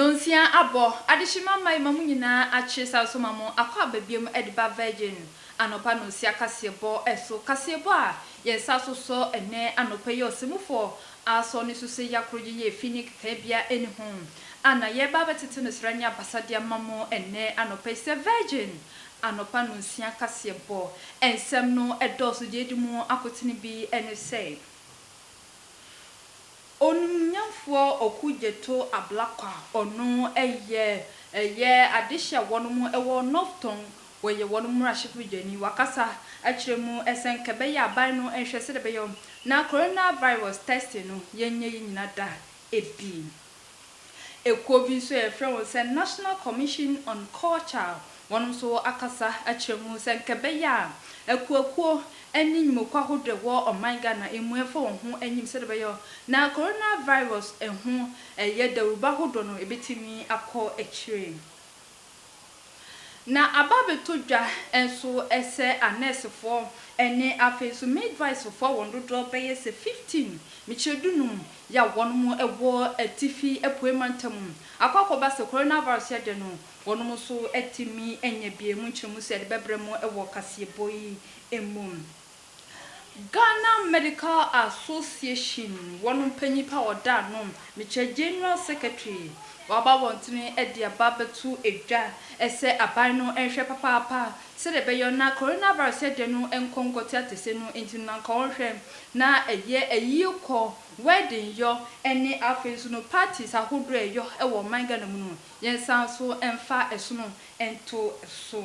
Nonsia abɔ, adehyema mma yɛma mo nyinaa akyere san nso ma mo akɔ aba biom de ba Virgin anɔpa nonsia kaseɛbɔ so, kaseɛbɔ a yɛn nsa so sɔ ɛnnɛ anɔpa yi, ɔsɛmufoɔ asɔ ne so sɛ yɛ akoro yɛ yɛ efi ne kekaɛ biara ɛni ho. a na yɛreba abɛtete no srɛ ne abasa de ama mo ɛnnɛ anɔpa yi sɛ Virgin anɔpa nnɔnsia kaseɛbɔ. Nsɛm no dɔɔso deɛ ɛdi mu akotene bi ne sɛ, Onimnyamfoɔ Oku Gyeto Ablakwa, ɔno yɛ yɛ adehyeɛ wɔnom wɔ North Tong, ɔyɛ wɔnom mmarahyɛbɔ badwani, wakasa akyerɛ mu sɛ nka ɛbɛyɛ a aban no nhwɛ sɛdeɛ ɛbɛyɛ na Coronavirus testing no yɛnyɛ yɛ nyina da Ebi. Ekuo bi nso a yɛfrɛ wɔn sɛ National Commission on Culture, wɔnom nso wɔ akasa akyerɛ mu sɛ nka ɛbɛyɛ a akuakuo ne nnwumakuo ahodoɔ a ɛwɔ ɔman Ghana mu ɛmfa wɔn ho nyim sɛdeɛ ɛbɛyɔ na Corona Virus ho ɛyɛ dawuruba ahodoɔ no ɛbɛtumi akɔ akyire. Na aba abɛtɔ dwa nso sɛ anɛɛsefoɔ ne afei nso midwivefoɔ a wɔn dodoɔ bɛyɛ sɛ 15, mekyerɛ dunum, yi a wɔnom wɔ atifi apuei mantam akɔ akɔba sɛ coronavirus yɛ dɛ no, wɔnom nso atumi anya bi. Ɛmu nkyerɛmu sɛ yɛde bɛbrɛ mo wɔ kaseɛbɔ yi mu. Ghana Medical Association wɔn mpanyin pa ɔda ano mekyɛ General Secretary waba abɔntene de aba bɛto dwa sɛ aban no nhwɛ papaapa sɛdeɛ ɛbɛyɔ na Coronavirus ɛdeɛ no nkɔ nkɔte atɛse no nti no na nka wɔn hwɛ na ɛyɛ ayie kɔ, wedding yɔ ɛne afei nso no parties ahodoɔ ɛyɔ wɔ ɔman Ghana mu no yɛn san nso mfa ɛsono nto so.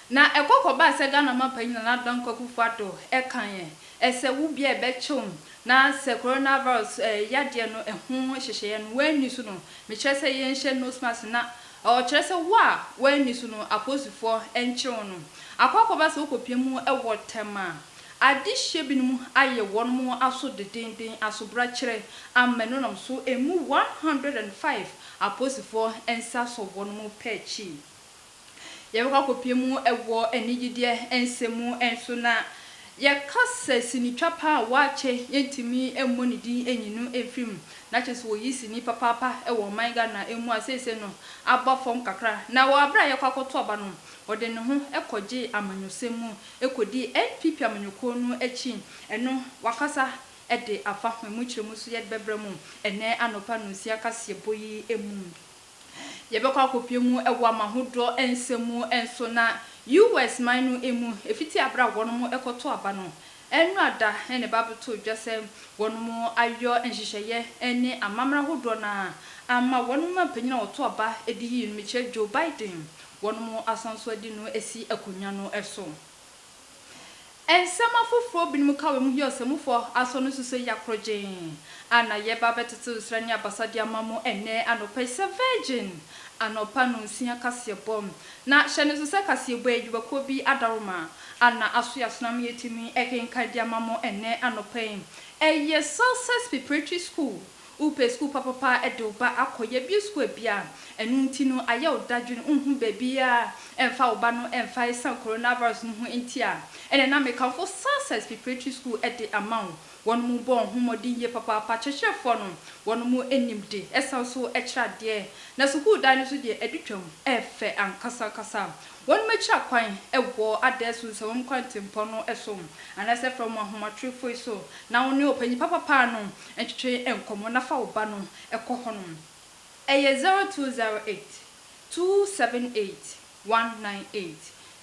Na ɛkɔ kɔbaa sɛ Ghana ɔmampanyin Nana Addo Dankwa Akufo-Addo ɛka yɛn ɛsɛ wo bia ɛbɛkyew no na sɛ Corona Virus ɛɛ yadeɛ no ɛho nhyehyɛeɛ no woanni so no mekyerɛ sɛ yɛnhyɛ nose mask na ɔkyerɛ sɛ wo a woanni so no apolisifoɔ ɛnkyere wo no akɔ akɔba sɛ wokɔpia mu ɛwɔ tɛm a adehyeɛ binom ayɛ wɔnom aso dedenden asobrakyerɛ ammɛno nam so ɛmu one hundred and five apolisifoɔ nsa sɔ wɔnom pɛ akyi. Yɛbɛkɔ akɔpue mu wɔ anigyedeɛ nsɛm mu nso, na yɛka sɛ sinitwa pa a wɔakyɛ yɛntumi mmɔ ne din nyi no mfiri mu. Na kyerɛ sɛ wɔyi sini papaapa wɔ ɔman Ghana mu a seesei no aba fam kakra. Na wɔ berɛ a yɛkɔ akɔto aba no, ɔde ne ho kɔgyee amanyɔsɛm mu kɔdii NPP amanyɔkuo no akyi. Ɛno wakasa de afa ho. Ɛmu nkyerɛmu nso yɛde bɛbrɛ mo ɛnnɛ anɔpa nonsia kaseɛbɔ yi mu. Yɛbɛkɔ akɔpue mu wɔ amahodoɔ nsɛm mu nso na US man no mu ɛfiti aberɛ a wɔnom kɔto aba no ɛnwura da na ɛba abɛto dwa sɛ wɔnom ayɔ nhyehyɛeɛ ne amamerɛ ahodoɔ no ara ama wɔnom mpanin a wɔto aba di yie no mekyerɛ Joe Biden wɔnom asan so adi no asi akonwa no so. Nsɛm afoforo binom ka wɔ mu yi ɔsɛmufo aso no nso sɛ yɛ akorɔgyenn a na yɛreba abɛtetew nsra ne abasa de ama mo ɛnnɛ anɔpa yi sɛ virgin anɔpa nnɔnsia kaseɛbɔ na hyɛ no nso sɛ kaseɛbɔ a adwumakuo bi adaworoma a na aso yɛ asonam yɛtumi kenkan de ama mo ɛnnɛ anɔpa yi ɛyɛ Success Preparatory School Wopɛ sukuu papapa de wo ba akɔ, yɛabue sukuu abien a ɛno nti no ayɛ wo dadwene, wonhu baabiara mfa wo ba no mfa ɛsiane coronavirus no ho nti a, ɛnna na mekamfo Success Preparatory School de ama wo. Wɔnom bɔɔ ho mmɔden yie papaapa, akyerɛkyerɛfoɔ no, wɔnom nim de san nso kyerɛ adeɛ, na sukuu dan no nso deɛ adi twam, ɛyɛ fɛ ankasa ankasa. Wɔnom akyiri akwan wɔ Adaeɛso nsawam kwan tempɔn no so, anaasɛ frɛ wɔn ahomatorofoɔ yi so, na wo ne ɔpanyin papapa no Ntwetwe nkɔmmɔ na fa wo ba no kɔ hɔnom. Ɛyɛ zero two zero eight, two seven eight, one nine eight,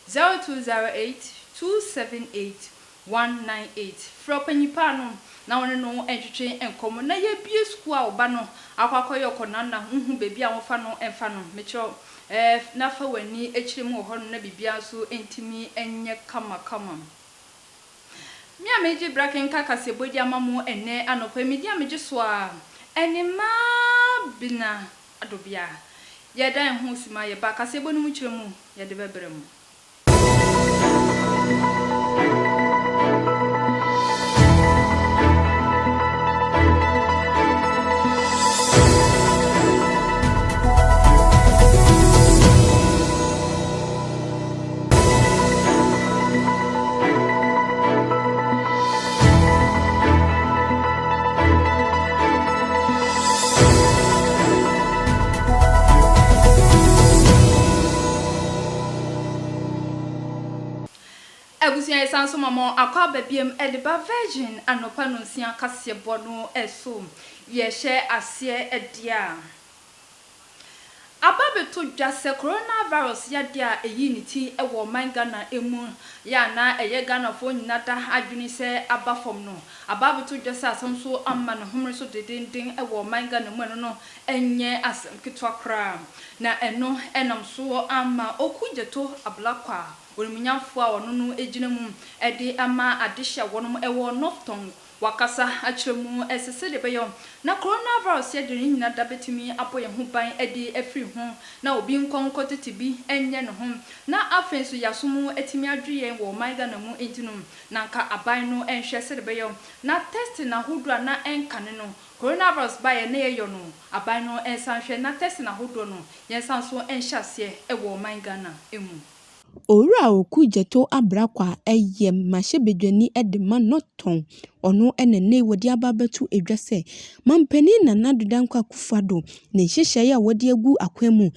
zero two zero eight, two seven eight, one nine eight. Frɛ ɔpanyin paa no na wo ne no ntwetwe nkɔmmɔ na yɛabue sukuu a wo ba no akɔ akɔyɛ ɔkɔnam na wohu baabi a wɔmfa no mfa no. Mekyerɛ wo, ɛɛ, na fa w'ani kyerɛ mu wɔ hɔnom na biribiara nso ntumi nyɛ kamakama. Me a megye bra kenka kaseɛbɔ di ama mo ɛnnɛ anɔpa yi, medi a megye so a, ɛne Mabena Adobea. Yɛda yɛn ho suma, yɛba kaseɛbɔ no mu kyerɛ mu, yɛde bɛbrɛ mo. Abusua yi san so ma mo akɔ aba biom de ba Virgin anɔpa nonsia kaseɛbɔ no so. Yɛhyɛ aseɛ deɛ a. Aba bɛto dwa sɛ coronavirus yadeɛ a ɛyii ne ti wɔ ɔman Ghana mu yɛ a na ɛyɛ Ghanafoɔ nyina da adwene sɛ aba fam no, aba abɛto dwa sɛ asan nso ama ne homene so dedenden wɔ ɔman Ghana mu ɛno no nyɛ asɛm ketewa koraa na ɛno nam so ama Oku Gyeto Ablakwa, onimunyamfoɔ a ɔno no gyina mu de ama adehye a wɔnom wɔ North Tongu. Wɔakasa akyerɛ mu sɛ sɛdeɛ ɛbɛyɔ na coronavirus yɛ de ne nyina da bɛtumi abɔ yɛn ho ban de afiri ho na obi nkɔ nkɔ tete bi nyɛ ne ho na afei nso yasom atumi adwe yɛn wɔ ɔman Ghana mu nti no na anka aban no nhwɛ sɛdeɛ ɛbɛyɔ na testing ahodoɔ a na ɛnkane no coronavirus baeɛ na yɛyɔ no aban no nsan nhwɛ na testing ahodoɔ no yɛnsan nso nhyɛ aseɛ wɔ ɔman Ghana mu. Owura Awuku Gyɛto Abrakwa yɛ mmarahyɛbadwani de ma North Tɔn. Ɔno na nnɛ wɔde aba abɛto dwa sɛ Manpanin Nana Addo Dankwa Akufo-Addo ne nhyehyɛe a wɔde agu akwan mu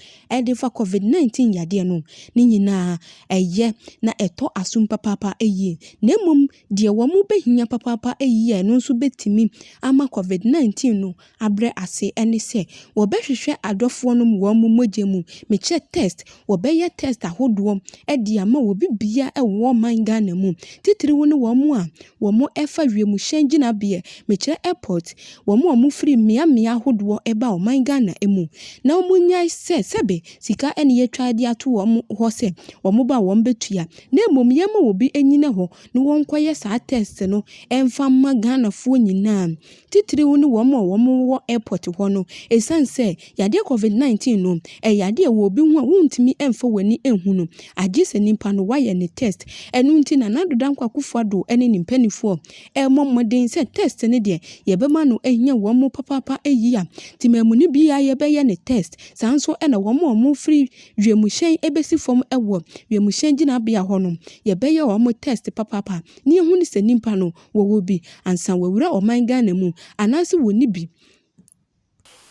de fa Covid 19 yadeɛ no, ne nyinaa, ɛyɛ na ɛtɔ asom papaapa yie, na mmom Deɛ wɔbɛhia papaapa yie a ɛno nso bɛtumi ama Covid 19 no abrɛ ase ne sɛ, wɔbɛhwehwɛ adɔfoɔ no wɔn mogya mu, mekyɛ test, wɔbɛyɛ test ahodoɔ de ama obi biara wɔ ɔman Ghana mu, titiriw ne wɔn a wɔfa wiemhyɛn gyinabeɛ, mekyerɛ airport, wɔn a wɔfiri mmea mmea ahodoɔ ba ɔman Ghana mu, na wɔnyae sɛ sɛbe sika na yɛtwa de ato wɔn hɔ sɛ wɔba a wɔbɛtua. na mmom yɛmma obi nnyina hɔ na wɔnkɔyɛ saa test no mfa mma Ghanafoɔ nyinaa, titiriw ne wɔn a wɔwɔ airport hɔ no, ɛsiane sɛ yadeɛ covid 19 no, ɛyɛ yadeɛ a ɛwɔ obi ho a wontumi mfa w'ani nhu no, agye sɛ nipa no wayɛ ne test. Ɛno nti na Nana Addo Dankwa Akufo Addo ne ne mpanimfoɔ rebɔ mmɔden sɛ test no deɛ yɛbɛma no ahia wɔn papaapa, ɛyi a, Temamuni biara yɛbɛyɛ no test, saa nso na wɔn a wɔfiri, wiemhyɛn bɛsi fam wɔ wiemhyɛn gyinabea hɔ no, yɛbɛyɛ wɔn test papaapa na yɛahu no sɛ nnipa no wɔwɔ bi ansa wɔawura ɔman Ghana mu anaasɛ wɔnni bi.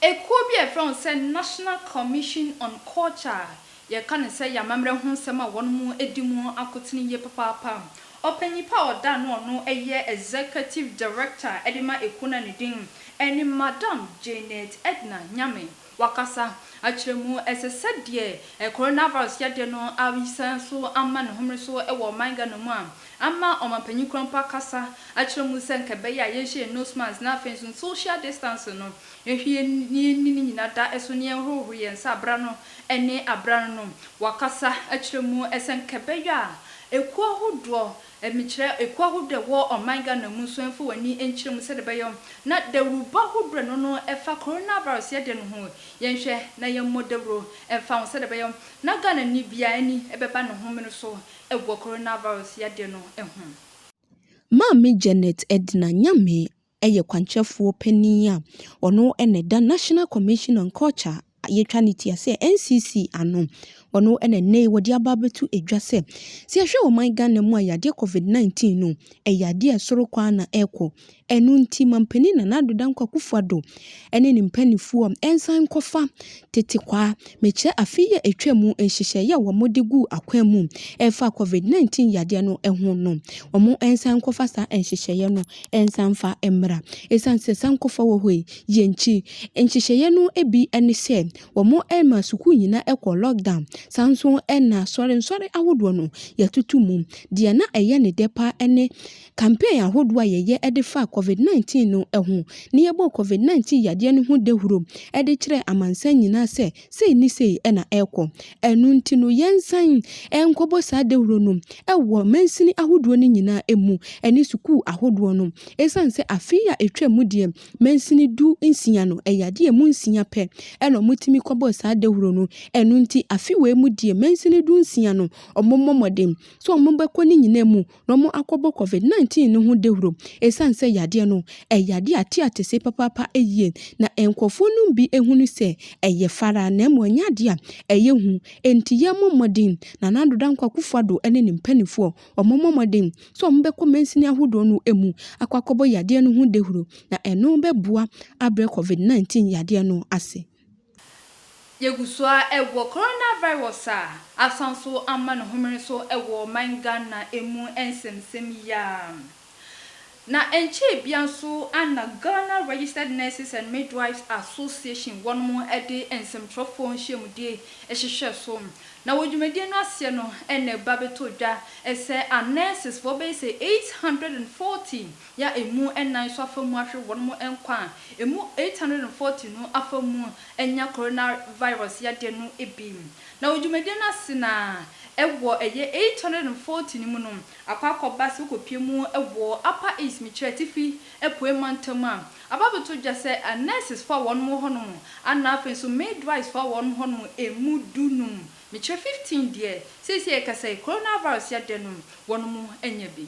Ekuo bi a yɛfrɛ wɔn sɛ National Commission on Culture a yɛka no sɛ yɛ amammerɛ ho nsɛm a wɔadi mu akotene yie papaapa. Ɔpanyin pa a ɔda a na ɔno yɛ Executive Director de ma ekuo no a ne din ne Madam Janet Edna Nyame Wakasa akyerɛ mu. Ɛsɛ sɛ deɛ coronavirus yadeɛ no asan so ama ne homene so wɔ ɔman Ghana mu a, ama ɔmanpanyin kura mpo akasa akyerɛ mu sɛ nka ɛbɛyɛ a yɛnhyɛ yɛn nose mask na afei nso social distancing no yɛnhwɛ yie na yɛnni ne nyinaa da so na yɛnhohoro yɛn nsa abera no ne abera no no. Wakasa akyerɛ mu sɛ nka ɛbɛyɛ a ekuo ahodoɔ Emi kyerɛ ekuo ahorow dɛ wɔ ɔman Ghana mu nso mfa w'ani nkyerɛ mu sɛdeɛ ɛbɛyɔ na dawurubɔ ho berɛ no no ɛfa coronavirus yɛdeɛ no ho yɛnhwɛ na yɛmmɔ dawuro mfa ho sɛdeɛ ɛbɛyɔ na Ghanani biara ani bɛba ne ho mene so wɔ coronavirus yadeɛ no ho. Maame Janet Edna Nyame yɛ kwankyerɛfoɔ panin a ɔno na ɛda National Commission on Culture a yɛtwa no tia sɛ NCC ano. Ɔno na nnɛ yi wɔde aba abɛto dwa sɛ, sɛ yɛhwɛ ɔman Ghana mu a yadeɛ Covid 19 no, ɛyɛ adeɛ a ɛsoro kɔ ara na ɛrekɔ. Ɛno nti, Mampanin Nana Addo Dankwa Akufo-Addo ɛne ne mpaninfoɔ nsan nkɔfa tete kwaa mekyerɛ afe yi a ɛtwa mu nhyehyɛeɛ a wɔn de guu akwan mu ɛfa covid 19 yadeɛ no ho no wɔn nsan nkɔfa saa nhyehyɛeɛ no nsan mfa mmra ɛsiane sɛ saa nkɔfa wɔ hɔ yi yɛ nkyi nhyehyɛeɛ no bi ne sɛ wɔn ɛma sukuu nyinaa ɛkɔ lockdown saa nso ɛna sɔre nsɔre ahodoɔ no yɛtoto mu deɛ na ɛyɛ ne dɛ paa ɛne Campaign ahodoɔ a yɛyɛ de faa Covid 19 no ho ne yɛbɔɔ Covid 19 yadeɛ no ho dawuro de kyerɛɛ amansan nyinaa sɛ sei ne sei na ɛrekɔ. Ɛno nti no yɛnsan nkɔbɔ saa dawuro no wɔ mansini ahodoɔ no nyinaa mu ne sukuu ahodoɔ no. Ɛsiane sɛ afe yi a ɛtwaa mu deɛ mansini du nsia no ɛyɛ adeɛ a ɛmu nsia pɛ na wɔtumi kɔbɔɔ saa dawuro no, ɛno nti afe wei mu deɛ mansini du nsia no wɔmmɔ mmɔden sɛ wɔbɛkɔ ne nyinaa mu na wɔakɔbɔ covid 19 no ho dawuro ɛsiane sɛ yadeɛ no ɛyɛ adeɛ a ɛte atɛse papaapa yie na nkurɔfoɔ nom bi hunu sɛ ɛyɛ fara na mmom ɛnyɛ adeɛ a ɛyɛ hu enti yɛmmɔ mmɔden Nana Addo Dankwa Akufo-Addo ne ne mpaninfoɔ wɔmmɔ mmɔden sɛ wɔbɛkɔ mansini ahodoɔ no mu akɔ akɔbɔ yadeɛ no ho dawuro na ɛno bɛboa abrɛ covid 19 yadeɛ no ase. Yɛgu so ara wɔ coronavirus a asan so ama no homene so wɔ ɔman Ghana mu nsɛmnsɛm yi ara. Na ɛnkyɛɛ biara nso na Ghana Registered Nurses and Midwives Association wɔnom de nsɛmtwerɛfoɔ nhyiamudie hwehwɛɛ so. Na wɔ dwumadie no aseɛ no na ɛba bɛtɔɔ dwa sɛ a nurses foɔ bɛyɛ sɛ 840 ya emu nnan so afa mu ahwe hɔn mo nkwa a emu 840 no afa mu enya coronavirus yade no bi. Na wɔ dwumadie no ase no a wɔ yɛ 840 no mu no akɔ akɔba sɛ wokɔpie mu wɔ Upper East, mekyerɛ Atifi Apuei Mantam a aba abɛtɔ dwa sɛ nurses foɔ a wɔn mo hɔ nom ana afei nso midwives foɔ a wɔn mo hɔ nom emu du num, mekyerɛ 15 deɛ seisei a yɛkasa yi coronavirus yade no wɔn mo anya bi.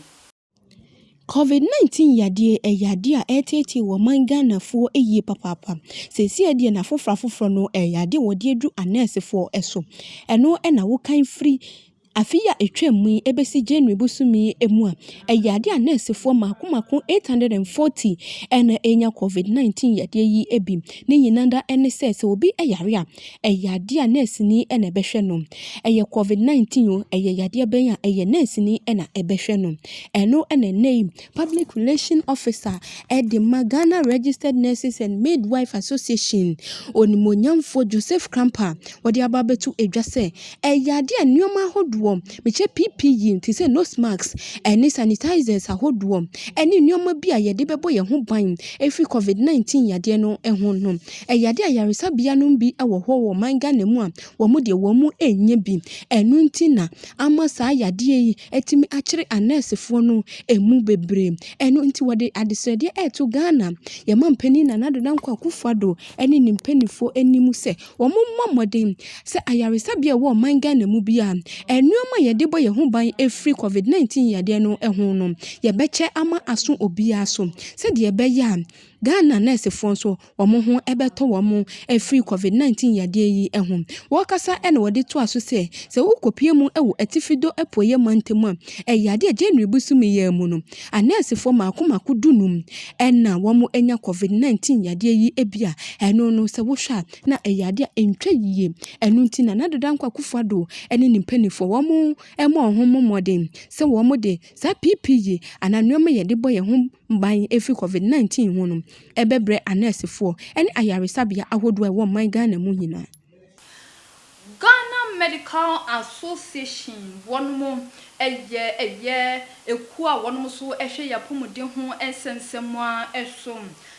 Covid 19 yadeɛ yɛ yadeɛ a ɛreteetee wɔ ɔman Ghanafoɔ yie papaapa. Seesei deɛ n'afoforɔ afoforɔ no ɛyɛ adeɛ a wɔde aduru anɛɛsefoɔ so. Ɛno na wokan firi afe yi a ɛtwaam yi bɛsi January bosome yi mu a, ɛyɛ adeɛ a anɛɛsefoɔ mmaako mmaako 840 na ɛrenya Covid 19 yadeɛ yi bi. Ne nyinaa ara ne sɛ, sɛ obi yare a. Ɛyɛ adeɛ a nɛɛseni na ɛbɛhwɛ no. Ɛyɛ covid 19 o, ɛyɛ yadeɛ bɛn a, ɛyɛ nɛɛseni na ɛbɛhwɛ no. Ɛno na ɛnnɛ yi public relation officer de ma Ghana Registered Nurses and Midwives Association, onimuonyamfoɔ Joseph Krampah, ɔde aba abɛto dwa sɛ, ɛyɛ adeɛ a nneɛma ahodoɔ, mekyɛ PPE te sɛ nose mask ne sanitisers ahodoɔ ne nneɛma bi a yɛde bɛbɔ yɛn ho ban ɛfiri covid 19 yadeɛ no ho no, Ɛyɛ ade a ayaresabea nom bi wɔ hɔ wɔ ɔman Ghana mu a wɔn deɛ wɔn mu ɛnyɛ bi. Ɛno nti na ama saa yadeɛ yi atumi akyere anɛɛsefoɔ no ɛmu bebree. Ɛno nti wɔde adesrɛdeɛ ɛreto Ghana yɛn mampanin Nana Addo Dankwa Akuffo Addo ɛne ne mpaninfoɔ anim sɛ wɔn mmɔ mmɔden sɛ ayaresabea ɛwɔ ɔman Ghana mu biara nnoɔma a yɛde bɔ yɛn ho ban ɛfiri covid 19 yadeɛ no ho no yɛbɛkyɛ ama aso obiara so sɛdeɛ ɛbɛyɛ a Ghana nɛɛsefoɔ nso wɔn ho bɛtɔ wɔn afiri Covid 19 yadeɛ yi ho. Wɔkasa na wɔde toa so sɛ, sɛ wokɔpue mu wɔ Atifi do Apueɛ mantam a, ɛyɛ adeɛ a January bosome yi ara mu no, anɛɛsefoɔ mmaako mmaako du num na wɔanya Covid 19 yadeɛ yi bi a, ɛno no sɛ wohwɛ a na ɛyɛ adeɛ a ɛntwa yie. Ɛno nti Nana Addo Dankwa Akufo Addo ne ne mpanimfoɔ wɔn mmɔ wɔn ho mmɔden sɛ wɔde saa PPE anaa nneɛma yɛde bɔ yɛn ho ban ɛfiri covid 19 ho no ɛbɛbrɛ anɛɛsefoɔ ne ayaresabea ahodoɔ a ɛwɔ ɔman Ghana mu nyinaa. Ghana Medical Association wɔn mo ɛyɛ ɛyɛ ɛkuo a wɔn mo so ɛhwɛ yɛ apɔmuden ho nsɛnsɛmua ɛso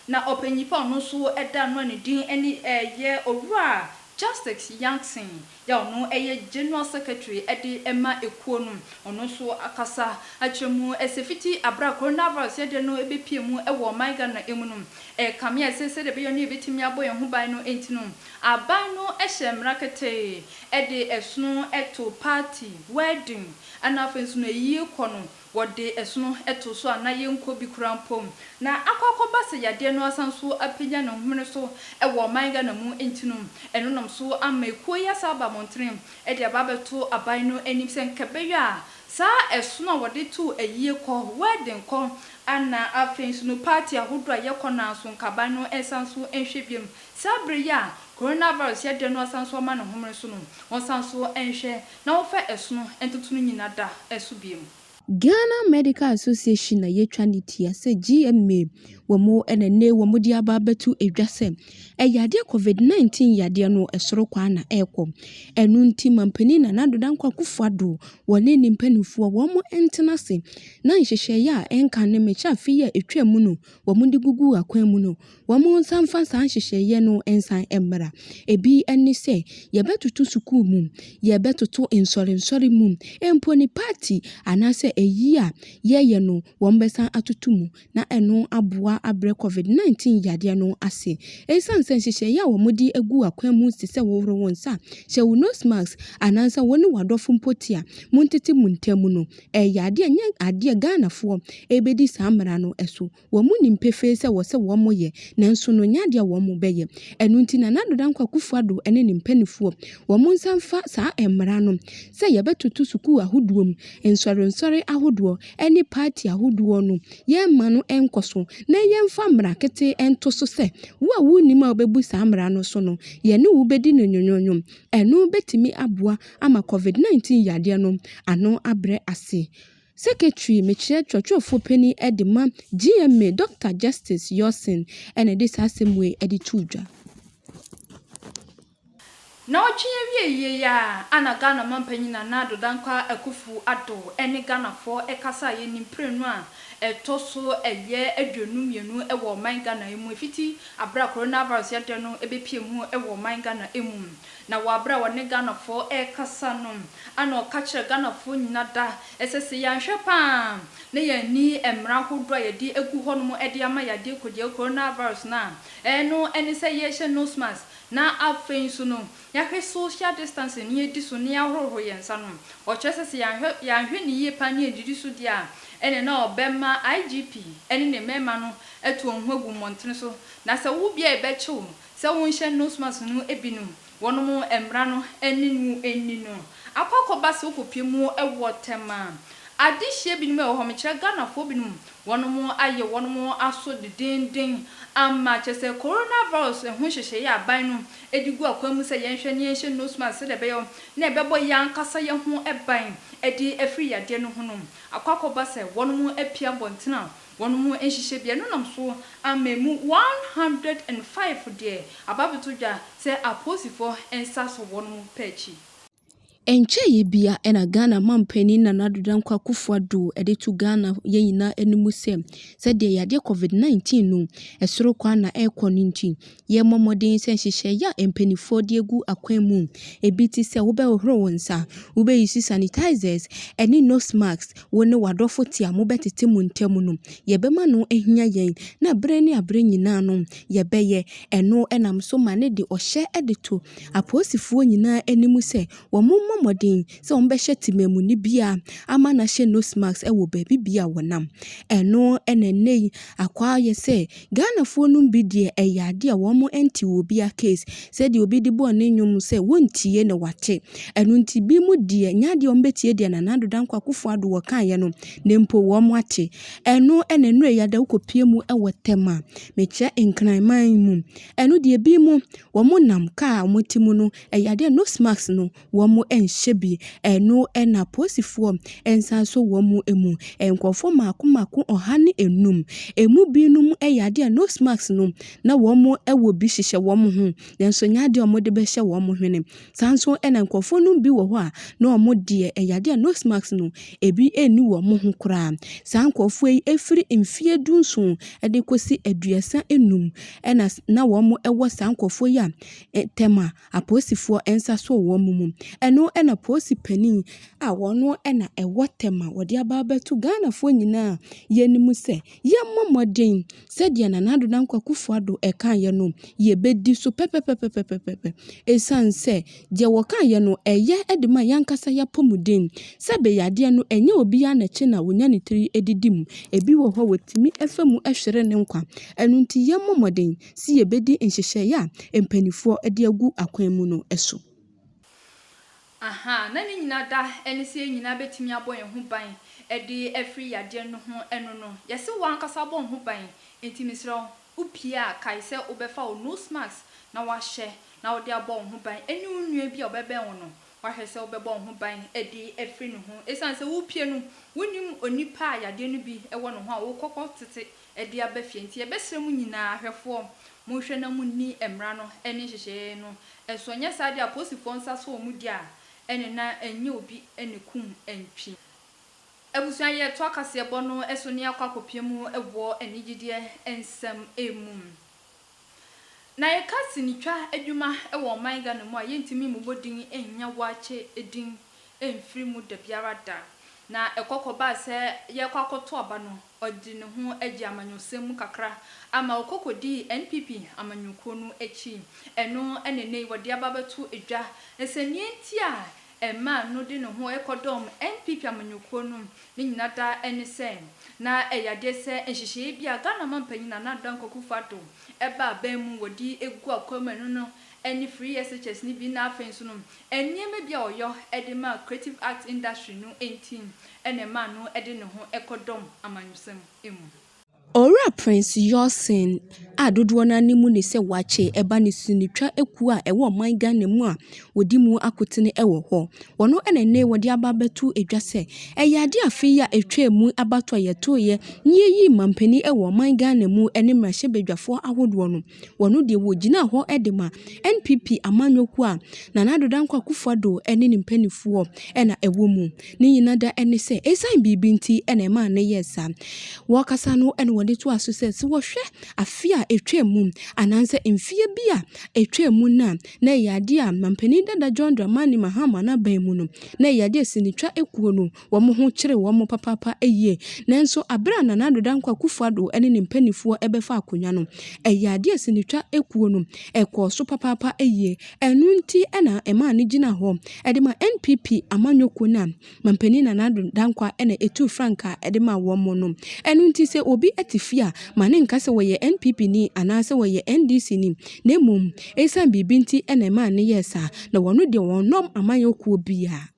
na ɔpanyinfoɔ a ɔno nso ɛda ano a ne din ɛne ɛyɛ Owura Justice Yankson a ɔno yɛ General Secretary de ma ekuo no, ɔno nso akasa akyerɛ mu sɛ fiti aberɛ a Coronavirus yadeɛ no bɛpuee mu wɔ ɔman Ghana mu no, ɛrekame a ɛsɛ sɛdeɛ ɛbɛyɛ no yɛbɛtumi abɔ yɛn ho ban no nti no, aban no hyɛɛ mmara ketee de ɛsono to party, wedding, ɛna afei nso no ayie kɔ no wɔde ɛsono to so a na yɛnkɔ bi koraa mpo, na akɔ akɔba sɛ yadeɛ no asan nso apagya ne homene so wɔ ɔman Ghana mu nti no, ɛno nam so ama ekuo yi asan aba mmɔntene de aba abɛto aban no anim sɛ nka ɛbɛyɛ a saa ɛsono a wɔde to ayie kɔ, wedding kɔ, na afei nso no party ahodoɔ a yɛkɔ no ara nso nka aban no nsan nso nhwɛ biom saa berɛ yi a Coronavirus yadeɛ no asan nso ama ne homene so no wɔnsan nso nhwɛ na wɔfa ɛsono ntoto no nyina da so biom. Ghana Medical Association na yɛtwa ne tua sɛ GMA wɔ mu na nnɛ wɔ mu de aba abɛto dwa sɛ ɛyadeɛ covid 19 yadeɛ no ɛsoro kwaa na ɛrekɔ. Ɛno nti Manpanin Nana Addo Dankwa Akuffo Addo wɔ ne ne mpaninfoɔ wɔn ntena ase na nhyehyɛeɛ a ɛnka ne mekyɛ afe yi a ɛtwaa mu no wɔn de gugu akwan mu no Wɔnsan mfa saa nhyehyɛeɛ no nsan mmra. Ebi ne sɛ, yɛbɛtoto sukuu mu, yɛbɛtoto nsɔrensɔre mu, mpo ne party anaasɛ ayi a yɛyɛ no wɔbɛsan atoto mu na ɛno aboa abrɛ covid 19 yadeɛ no ase. Ɛsiane sɛ nhyehyɛeɛ a wɔde agu akwan mu te sɛ hohoro wo nsa, hyɛ wo nose mask anaasɛ wo ne w'adɔfo mpo te a montete mo ntam no, ɛyɛ adeɛ a ɛnyɛ adeɛ a Ghanafoɔ bɛdi saa mmara no so Wɔnim pefee sɛ wɔ sɛ wɔn yɛ, nanso no nya deɛ wɔn bɛ yɛ. Ɛno nti Nana Addo Dankwa Akufo Addo ne ne mpaninfoɔ, wɔn nsa mfa saa mmara no sɛ yɛbɛ toto sukuu ahodoɔ mu, nsɔre nsɔre ahodoɔ ne party ahodoɔ no yɛn mma no nkɔ so na yɛn mfa mmara ketee nto so sɛ wo a wo nim a wo bɛ bu saa mmara no so no yɛ ne wo bɛ di no nyonyonyo. Ɛno bɛ tumi aboa ama covid 19 yadeɛ no ano abrɛ ase. Secretary, mekyerɛ kyerɛkyerɛfoɔ panin de ma GMA, Dɔkta Justice Yorson na ɛde saa asɛm wei de too dwa. Nnawɔtwe awieeɛ yi ara na Ghana manpanyin Nana Addo Dankwa Akuffo Addo ne Ghanafoɔ kasaeɛ ne mprenu a ɛtɔ so ɛyɛ aduonu mmienu wɔ ɔman Ghana mu ɛfiti aberɛ a Coronavirus yadeɛ no bɛpie mu wɔ ɔman Ghana mu. Na wɔ aberɛ a ɔne Ghanafoɔ rekasa no na ɔka kyerɛɛ Ghanafoɔ nyina da sɛ sɛ yɛanhwɛ pa ara na yɛanni mmara ahodoɔ a yɛde agu hɔ nom de ama yɛ adeɛ kɔdeɛ coronavirus no a, ɛno ne sɛ yɛhyɛ nose mask na afei nso no yɛahwɛ social distancing na yɛdi so na yɛahohoro yɛn nsa nom. Ɔkyerɛ sɛ sɛ yɛanhwɛ yɛanhwɛ no yie pa ara na yɛannidi so deɛ a ɛneɛ na ɔbɛma IGP ne ne mmarima no atu wɔn ho agu mmɔntene so na sɛ wo bia yɛbɛkye wo sɛ wonhyɛ nose mask no binom wɔnom mmara no ne no nni no akɔ akɔba sɛ wokɔpie mu wɔ tɛm a adehyeɛ binom ɛwɔ hɔ mekyerɛ Ghanafoɔ binom wɔnom ayɛ wɔnom aso dedenden ama kyerɛ sɛ Corona virus ho nhyehyɛeɛ a aban no de gu akwan mu sɛ yɛnhwɛ na yɛnhyɛ nose mask sɛdeɛ ɛbɛyɔ na ɛbɛbɔ yɛn ankasa yɛn ho ban de afiri yadeɛ no ho no akɔ akɔba sɛ wɔnom apue abɔntene a Wɔn mu nhyehyɛ biara no nam so ama emu one hundred and five deɛ aba abɛto dwa sɛ apolisifoɔ nsa sɔ wɔn pɛ akyi. Ɛnkyɛeɛ biara na Ghana manpanin Nana Addo Dankwa Akuffo Addo de to Ghana yɛn nyinaa anim sɛ, sɛdeɛ yadeɛ Covid 19 no, ɛsoro kwan na ɛrekɔ no nti, yɛmmɔ mmɔden sɛ nhyehyɛe a mpanimfoɔ de agu akwan mu bi te sɛ wobɛhohoro wo nsa, wobɛyusu sanitizers ne nose masks, wo ne w'adɔfo te a mobɛtete mo ntam no, yɛbɛma no ahia yɛn, na bere ne bere nyinaa no, yɛbɛyɛ ɛno. Ɛnam so ma no de ɔhyɛ de to apolisifoɔ nyinaa anim sɛ wɔmmɔ mmɔden sɛ wɔbɛhyɛ temammuni biara ama no ahyɛ nose mask wɔ baabi biara a wɔnam. Ɛno na ɛnnɛ yi akɔ ayɛ sɛ Ghanafoɔ nom bi deɛ ɛyɛ adeɛ a wɔn nte wɔ obia case sɛdeɛ obi de bɔɔ ne nnwom sɛ wɔntie na wɔate ɛno nti bi mo deɛ nyɛ adeɛ a wɔn bɛtie deɛ Nana Addo Dankwa Akufo Addo wɔkaeɛ no na mpo wɔn ate ɛno ɛna nnurɛ yi ada wokɔ pie mu wɔ tɛm a mekyerɛ Nkranman mu ɛno deɛ bi mo wɔn nam car a wɔte mu no ɛyɛ adeɛ a nose mask no wɔnhyɛ bi. Ɛno na apolisifoɔ nsa nso wɔn mu. Nkurɔfoɔ mmaako mmaako ɔha ne nnum. Ɛmu binom yɛ adeɛ a nose mask no, na wɔwɔ bi hyehyɛ wɔn ho, nanso ɛnyɛ adeɛ a wɔde bɛhyɛ wɔn hwene. Saa ara nso na nkurɔfoɔ no bi wɔ hɔ a, na wɔn deɛ, ɛyɛ adeɛ a nose mask no, ɛbi nni wɔn ho koraa. Saa nkurɔfoɔ yi firi mfeɛ du nson de kɔsi aduasa nnum, ɛna na wɔwɔ saa nkurɔfoɔ yi a ntɛm a. apolisifoɔ nsa sɔɔ wɔn mu. Ɛno na polisi panin a ɔno na ɛwɔ tɛm a wɔde aba abɛto Ghanafoɔ nyinaa yɛnim sɛ, yɛmmɔ mmɔden sɛdeɛ Nana Addo Dankwa Akufo Addo kaeɛ no, yɛbɛdi so pɛpɛpɛpɛpɛpɛpɛ. Ɛsiane sɛ deɛ wɔkaeɛ no, ɛyɛ de ma yɛn ankasa yɛn apɔmuden. Sɛbe yadeɛ no, ɛnyɛ obiara na ɛkye no a ɔnya ne tiri didi mu. Ɛbi wɔ hɔ a, wɔtumi fa mu hwere ne nkwa. Ɛno nti, yɛmmɔ mmɔden. se yɛbɛdi nhyehyɛeɛ a mpaninfoɔ de agu akwan mu no so. Ahaa, na ne nyina da ne sɛ yɛ nyina bɛtumi abɔ yɛn ho ban de afiri yadeɛ no ho, ɛno no, yɛse wo ankasa bɔ wo ho ban, enti mesrɛ wo, wo pie a kae sɛ wo bɛfa wo nose mask na woahyɛ na wode abɔ wo ho ban, ɛne wo nua bi a ɔbɛbɛn wo no, woahwɛ sɛ wo bɛbɔ wo ho ban de afiri ne ho, ɛsiane sɛ wo pie no, wo nnim onipa a yadeɛ no bi wɔ ne ho a wo kɔ kɔ tete de aba fie. Enti yɛbɛsrɛ mo nyinaa, ahwɛfoɔ, monhwɛ na monni mmara no ne nhyehyɛeɛ no so, anyɛ saa deɛ a apolisifoɔ nsa sɔ wɔn di a, ɛnne na ɛnyɛ obi na ɛkum ntwi. Abusua yɛ toa kaseɛbɔ no so ne akɔ akɔpie mu wɔ anigyedeɛ nsɛm mu. Na yɛka sinitwa adwuma wɔ ɔman Ghana mu a, yɛntumi mmobɔ din nnya Waakye din mfiri mu da biara da. Na ɛkɔ kɔbaa sɛ yɛrekɔ akɔto aba no, ɔde ne ho agye amanyɔsɛm mu kakra ama ɔkɔ kɔdii NPP amanyɔkuo no akyi. Ɛno na ɛnnɛ yi wɔde aba abɛto dwa sɛ nea enti a ɛmaa no de ne ho kɔdɔm NPP amanyɔkuo no, ne nyina daa ne sɛ, na ɛyɛ adeɛ sɛ nhyehyɛeɛ bi a Ghana manpanyin Nana Addo Dankwa Akufo-Addo ɛba aban mu wɔde gu akwan mu ɛno no ne Free SHS no bi na afei nso no nneɛma bi a ɔyɔ de ma creative arts industry no nti na ɛmaa no de ne ho kɔdɔm amanyɔsɛm mu. Owura Prince Yoursen a dodoɔ no ara no mu ne sɛ wakye ɛba ne sonitwa kuo a ɛwɔ ɔman Ghana mu a wɔdi mu akotene wɔ hɔ. Wɔno na nnɛ yi wɔde aba abɛto dwa sɛ ɛyɛ adeɛ a afe yi a ɛtwaa mu abatoɔ a yɛtoeɛ na yɛyii mampanin wɔ ɔman Ghana mu ne mmarahyɛbadwafoɔ ahodoɔ no. wɔno deɛ wɔgyinaa hɔ de ma NPP amanyɔkuo a Nana Addo Dankwa Akufo Addo ne ne mpaninfoɔ na ɛwɔ mu. Ne nyina da ne sɛ ɛsiane biribi nti na ɛmaa no yɛɛ saa. Wɔkasa no na wɔde toaa so sɛ, sɛ wɔhwɛ afe a ɛtwaa mu anaasɛ mfeɛ bi a ɛtwaa mu no a, na ɛyɛ adeɛ a Mampanin dada John Dramani Mahama n'aban mu no, na ɛyɛ adeɛ a sinitwa kuo no Wɔn ho kyeree wɔn papaapa yie. Nanso bere a Nana Ado Dankwa Akufo-Addo ne ne mpanimfoɔ bɛfa akonnwa no, ɛyɛɛ adeɛ a sinitwa kuo no kɔɔ so papaapa yie. Ɛno nti na ɛmaa no gyinaa hɔ de maa NPP amanyɔ kuo no a Mampanin Nana Ado Dankwa na ɛtuu frankaa de maa wɔn no. Ɛno nti sɛ obi te fie a, ma no nka sɛ ɔyɛ NPP ni anaasɛ ɔyɛ NDC ni, na mmom ɛsiane biribi nti na ɛmaa no yɛɛ saa. Na wɔn deɛ wɔnnɔm amanyɔ kuo biara.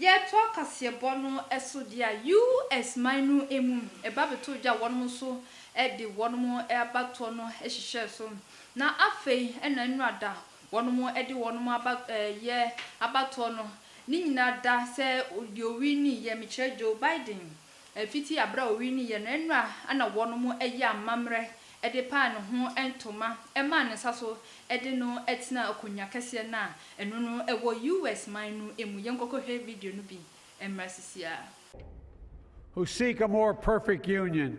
Yɛtoa kaseɛbɔ no so de a US man no mu ba bɛtoo dwa a wɔnom nso de wɔnom abatoɔ no hyehyɛɛ so na afei na nnora da wɔnom de wɔnom aba yɛ abatoɔ no ne nyinaa da sɛ deɛ ɔwinii yɛ mekyerɛ Joe Biden Fitsi aber a owii no yɛ no eno a ana wɔnom yɛ amammerɛ de paa ne ho ntoma maa ne nsa so de no tsenaa akonwa kɛseɛ no a eno no wɔ US man no mu. Yɛnkɔkɔhwɛ video no bi mmra sisiaa. Who seek a more perfect union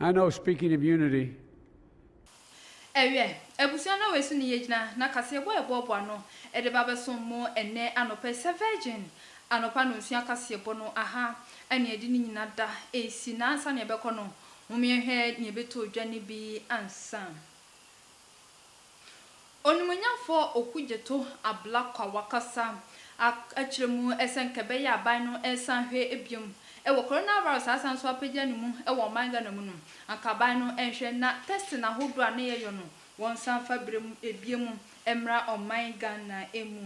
I know speaking of unity. Ɛwiɛ, abusua na wei so ne yɛgyina na kaseɛbɔ a ɛboaboa ano de ba bɛsom mo ɛnnɛ anɔpa yi sɛ Virgin anɔpa nnɔnsua kaseɛbɔ no aha ne ɛde ne nyina da ɛresi na ansa na yɛbɛkɔ no momeɛhwɛ nea ɛbɛtɔ dwa no bi ansa. Onimonyamfo Okudzeto Ablakwa wakasa akyerɛ mu sɛ nka ɛbɛyɛ a aban no resan ahwɛ biom wɔ coronavirus a asan nso apagya ne mu wɔ ɔman Ghana mu no, anka aban no nhwɛ na testing ahodoɔ a na yɛyɔ no wɔnsan fa biom mmra ɔman Ghana mu.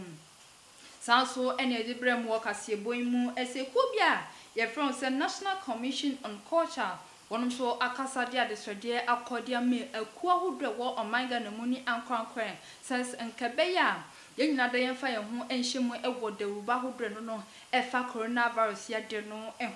Saa nso na yɛde brɛ mo wɔ kaseɛbɔ yi mu. Ɛsɛ kuo bi a yɛfrɛ wɔn sɛ National Commission on Culture. Wɔnom nso akasa de adesrɛdeɛ akɔ de ama akuo ahodoɔ a ɛwɔ ɔman Ghana mu ne ankorankorɛ sɛ nka ɛbɛyɛ a yɛn nyinaa da yɛmfa yɛn ho nhyɛ mu wɔ dawuruba ahodoɔ a ɛno no ɛfa Coronavirus yadeɛ no ho.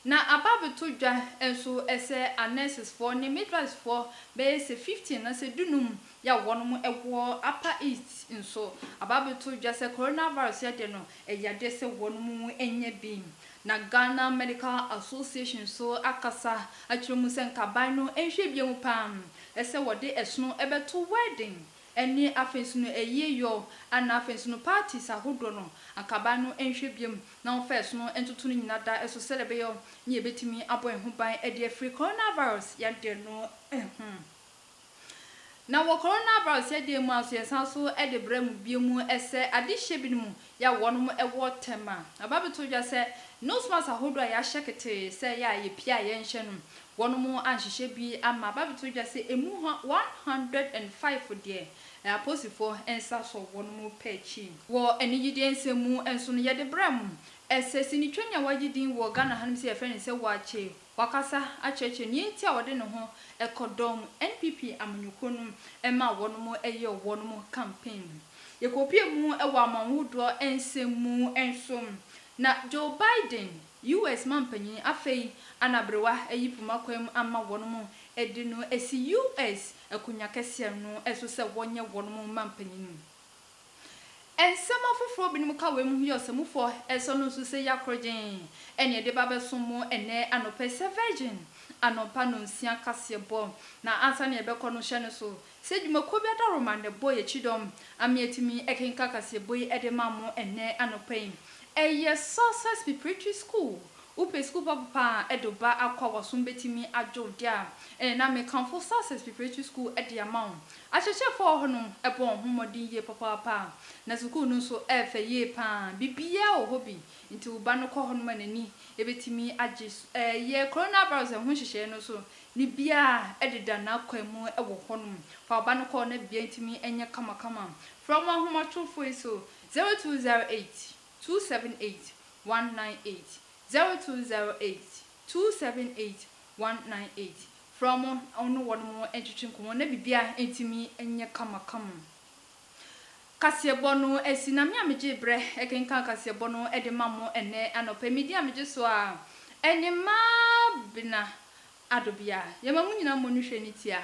Na ababetodwa nso sɛ anɛsesfoɔ ne midwifesfoɔ bɛyɛ sɛ fifteen anaasɛ dunum ya wɔnom wɔ Upper East nso ababetodwa sɛ coronavirus yadeɛ no ɛyɛ adeɛ sɛ wɔnom nya bi. Na Ghana Medical Association nso akasa akyerɛ mu sɛ nkaban no nhwɛ bia mu paa sɛ wɔde ɛsono bɛto wedding Ɛnneɛ afei nso no ɛyie yoo a na afei nso no parties ahodoɔ no anka aban no nhwɛ biom na wɔmfa ɛsono ntoto no nyina da so sɛdeɛ ɛbɛyɔ ne yɛbɛtumi abɔ yɛn ho ban de afiri coronavirus yadeɛ no ho. Na wɔ coronavirus yadeɛ mu ara nso yɛsan so de brɛ mo biom sɛ adehyeɛ binom yɛ a wɔnom wɔ tɛm a, aba abɛto dwa sɛ nose mask ahodoɔ a yɛahyɛ ketee sɛ yɛ a yɛpie a yɛnhyɛ no, wɔnom anhyehyɛ bi amma. Aba abɛto dwa sɛ ɛmu ha one hundred and five deɛ, ɛyɛ aposifoɔ nsa so wɔnom pɛ akyi. Wɔ anigyedeɛ nsɛm mu nso no, yɛde brɛ mo, ɛsɛ sinitwani a wagye din wɔ Ghana hanom sɛ yɛfrɛ no sɛ Waakye Wakasa akyerɛkyerɛ nea nti a ɔde ne ho kɔdɔm NPP amanyɔkuo no ma wɔnom yɛ wɔnom campaign. Yɛkɔpue mu wɔ amanhodoɔ nsɛm mu nso. Na Joe Biden, US mampanyin afei anaberewa ayi poma kwan ama wɔnom de no asi US akonwa kɛseɛ no so sɛ wɔnyɛ wɔnom mampanyin. Nsɛm afoforo a ebinom ka wɔ emuhuyɛ ɔsamufo a ɛsɔ no nso sɛ ya korogyenn, ɛne ɛde ba bɛsom mo ɛnnɛ anɔpa yi sɛ Virgin anɔpa nnɔnsia kaseɛbɔ. Na ansa na yɛbɛkɔ no, hyɛ no so sɛ dwumakuo bi adaworoma na ɛbɔ yɛn kyidɔm ama yɛatumi akenkan kaseɛbɔ yi de ma mo ɛnnɛ anɔpa yi. Ɛyɛ Success Preparatory School. Wopɛ sukuu pa papa a ɛde wo ba akɔ a w'asom bɛtumi adwo wo de a, ɛnna na mekamfo Success Preparatory School de ama wo. Akyerɛkyerɛfo a wɔwɔ hɔ no bɔ wɔn ho mmɔden yie papaapa, na sukuu no nso yɛ fɛ yie paa. Biribiara wɔ hɔ bi, enti wo ba no kɔ hɔnom a n'ani betumi agye. Yɛ coronavirus ho nhyehyɛe no so ne biara deda n'akwan mu wɔ hɔnom. Fa wo ba no kɔ na biribiara ntumi nyɛ kamakama. Frɛ wɔn ahomatorofo yi so, 0208 278 198, 0208 278198. Frɛ wɔn na wo ne wɔn ntwetwe nkɔmmɔ na biribiara atumi anyɛ kamakama. Kaseɛbɔ no asi. Na me a megyee berɛ kenkan kaseɛbɔ no de ma mo ɛnnɛ anɔpa yi, me din a megye so ara ne Mabena Adobea. Yɛma mo nyinaa mmɔ no hwɛ ne ti a